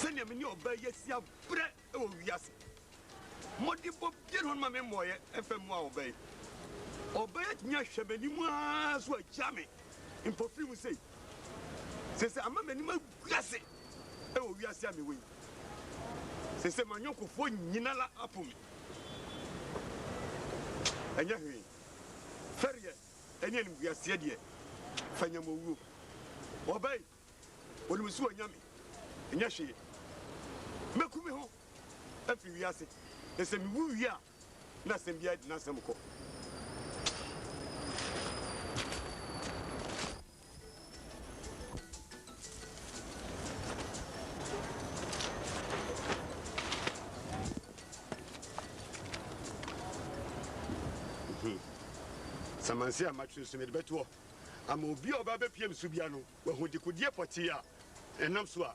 sɛnea me ne ɔbaa yi asi abrɛ wɔ wiase mmɔdenbɔ biara hɔ no ma me mmɔɔyɛ ɛmfa mu a ɔbaa yi ɔbaa yi atumi ahwɛ m'anim ara so agya me mpofiri mu sei sɛ sɛ ama m'anim agu ase wɔ wiase a mewɔ yi. Sesei m'anyɔnkofoɔ nyinara apo me. Ɛnyɛ hwee. Fɛreɛ ne animguaseɛ deɛ, fa nya m'owuo. Ɔba yi, ɔnim sɛ wanya me. Ɛnyɛ hwee. Mɛku me ho afiri wiase, na sɛ mewu wie a, na asɛm biara di n'asɛm kɔ. samansi a matwerɛ so mede bɛtoɔ ama obi a ɔba bɛpiem so bia no wahu dekodeɛ pɔtee a ɛnam so a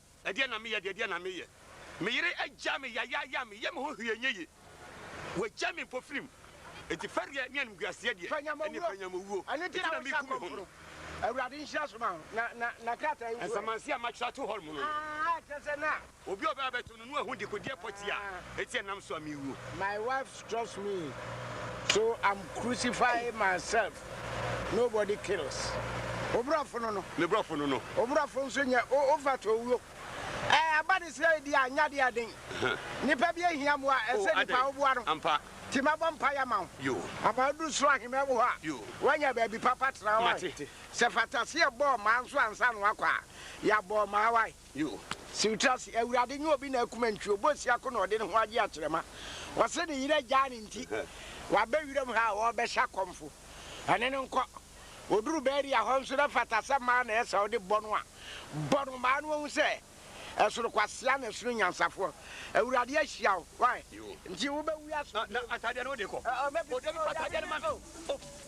Ɛdeɛn na meyɛ deɛ, ɛdeɛn na meyɛ? Me yere agya me yayaaya, meyɛ me ho hwee nyɛ ye. Wagya me mpofirim, enti fɛreɛ ne animguaseɛ deɛ, ɛne panyamowuo, enti na meku me ho no. Nsamanseɛ a matwerɛ ato hɔ mono, obi a ɔbɛba abɛto no no ahu dekodeɛ pɔtee a eti ɛnam so a merewuo. Nobody kills obrɔfo no no. Ne brɔfo no no. Obrɔfo nso nyɛ ofata owuo. Ɛɛ aba ne sɛ edi a nyɛ adeɛ ɛden. Nipa bi ehia mmoa a ɛsɛ nipa woboa no. Ampa. Nti mɛbɔ mpaeɛ ama wo. Yoo. Ama wodu soro ahemman mu hɔ a. Yoo. Woanya baabi papa tena wae. Mate. Sɛ fataseɛ bɔɔ mmaa nso ansa na wakɔ a, yɛabɔ mmaa wae. Yoh. Siwtrase, Awurade nyɛ obi na akuma ntwi, ɔbɔ ɔsia ko na ɔde ne ho agye akyerɛma. Ɔse ne yere agyaa no nti, waba wiram ha a ɔrebɛhyɛ akɔmfo. Ɛne no nkɔ. Ɔduru Beria hɔ nso na ɛfata sɛ mmaa na ɛsɛ ɔde bɔ no a, bɔ no maa no ahu sɛ ɛsono kwasea na ɛsono nyansafoɔ. Awurade ahyia wo. Why? Nti wobɛwura asomdwoe mu. Ɔbɛpɛ sɛ ɔyɛ ade no.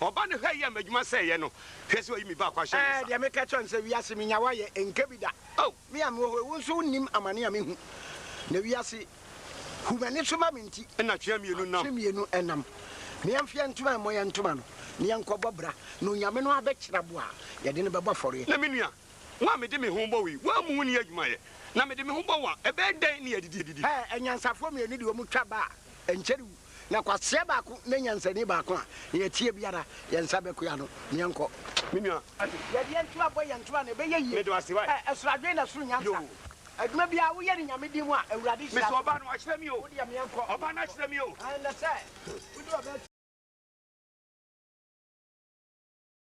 Ɔba no hwɛ yɛ m'adwuma sɛ yɛ no, hwɛ sɛ ɔyi me baako ahyɛ ne nsa. Deɛ meka kyerɛ no sɛ, Wiase menyawa yɛ ɛnkɛ bi da. Me a mewɔ hɔ yi, wo nso wonnim amane a mehu, na wiase hu m'ani so ma me nti. Ɛnna twe mmienu nam. Twe mmienu nam. Na yɛmfa yɛn ntoma mmɔ yɛn ntoma no, na yɛnkɔbɔ bra, na onyame no abɛkyerɛ bo a, yɛde no bɛbɔ afɔreɛ. Na me nua, wo a mede me ho bɔ wo yi, woammu wo nni adwumayɛ, na mede me ho bɔ wo a, ɛbɛyɛ dɛn ne yɛadidi adidi? Ɛɛ, anyansafoɔ mmienu de wɔn twa ba a, ɛnkyɛre wu. Na kwasea baako ne nyansani baako a, nea ɛteɛ biara, yɛn nsa bɛkoa no. Yɛnkɔ. Me nua. Yɛde yɛn ntoa bɔ yɛn ntoa na ɛbɛyɛ yie. Meda wo ase, wai. Ɛ, soro adwene na soro nyansa. Yoo. Adwuma biara woyɛ no Nyame din mu a, Awurade hyira so. Mesɔ ɔbaa no, wakyerɛ me o. Wo deɛ meɛnkɔ. Ɔbaa no akyerɛ me o. Ɛnɛ sɛ, wode ɔbaa.